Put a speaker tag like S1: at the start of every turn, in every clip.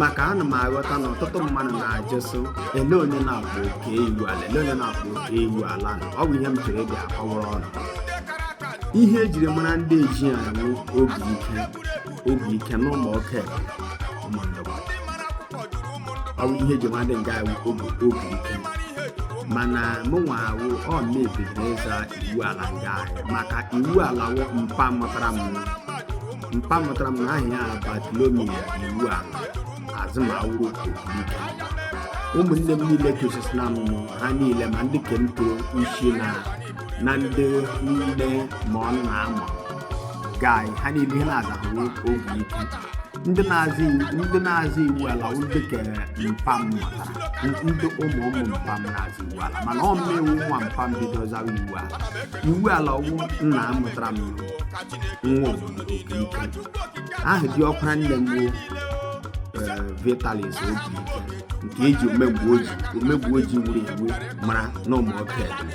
S1: maka ana m aghọta na ọtụtụ mmadụ na-ajụ sị ele onye na-akpọ oke iwu ala ele onye na-akpọ oke iwu ala ọ bụ ihe m chọrọ ịga akọwara ụnụ ihe ejiri mara ndị ezi anyị wụ obi ike obi ike na ụmụ oke ọ bụ ihe eji mara ndị nga anyị wụ obi ike mana mụnwa wụ onye bidoro ịza iwu ala nga anyị maka iwu ala wụ mpa mụtara m mpa mụtara m na aha ya bartholomew iwu ala azụmawụrụ obi ike ụmụnne m niile tosisi na m ha niile ma ndị ke m toro isi na na ndị niile ma ọ na ama gai ha niile ihe ha na-aza wụ obi ike ndị na-aza iwu- ndị na-aza iwu ala wụ ndị ke mpa m mụtara ndị ụmụ ụmụ mpa m na-aza iwu ala mana ọ mụ wụ nwa mpa m bido zawa iwu ala iwu ala wụ nna mụtara m nwa obodo obi ike aha di ọkwara nne m wụ vitalis obi ike eji omemgbe oji omemgbe oji wuru ewu mara na ụmụ oke ebe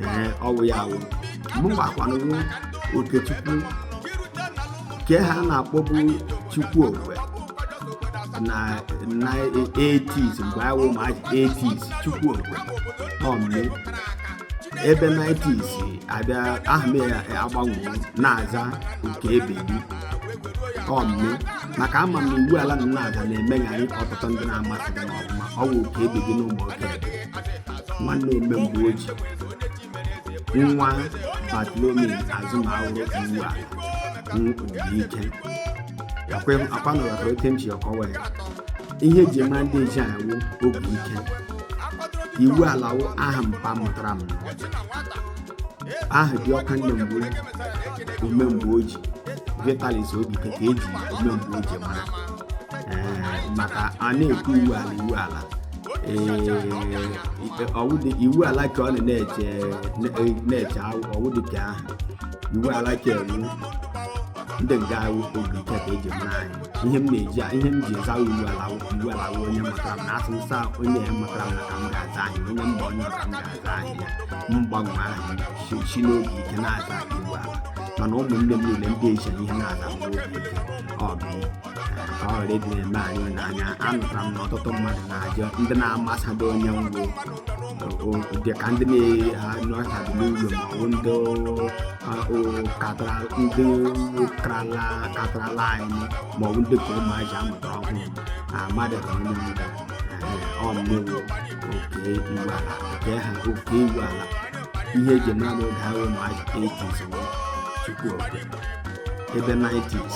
S1: ee ọ wụ ya wụ mụnwa kwanụ wụ okechukwu nke ha na-akpọbu chukwu okwe na 80s mgbe awụ ma 80s chukwu okwe ọ mụ ebe 90s abịa aha m agbanwe na-aza oke ebedi ọ mụ maka ama m iwu ala m na-aza na-emegharị ọtụtụ ndị na-amaghị na ọ bụ mụ wụ oke ebedi na ụmụ oke nwanne omemgbe oji nwa bartholomew azụmawụrụ iwu ala obi ike ọkwa ụnụ ghọtara ka m ji akọwa ya ihe eji mara ndị ezi anyị wụ obi ike iwu ala wụ aha mpa mụtara m aha di ọkwara nne m bụ omemgbe oji vitalis obi ike ka eji omemgbe oji mara maka a na-ekwu iwu ala iwu ala iwu ala ka ọ na-eche na-eche ọ wụ dị ka aha iwu ala ka ewu ndị nga anyị obi ike ka eji mara anyị ihe m na-eji ihe m ji aza iwu ala iwu ala wụ onye mụtara m na a sị m zaa onye mụtara m na ka m ga-aza aha onye mba onye ka m ga-aza aha ya m gbanwe aha si n'obi ike na-aza iwu ala mana ụmụnne m niile ndị ezi ihe ha na-aza bụ obi ike ọ bụ ka ọ ghara ịdị na-eme anyị n'anya anụtara m na ọtụtụ mmadụ na-ajụ ndị na-amasado onye m wụ dị ka ndị na-anọchabi n'ụlọ ma ọ bụ ndị karala katarala anyị ma ọ bụ ndị ka ụmụazị a mụtara ọhụrụ amadịghị onye m wụ ọ mụ wụ oke iwu ala nke ha oke iwu ala ihe eji mara n'oge ahụ ụmụaji 80s chukwu okwe ebe 90s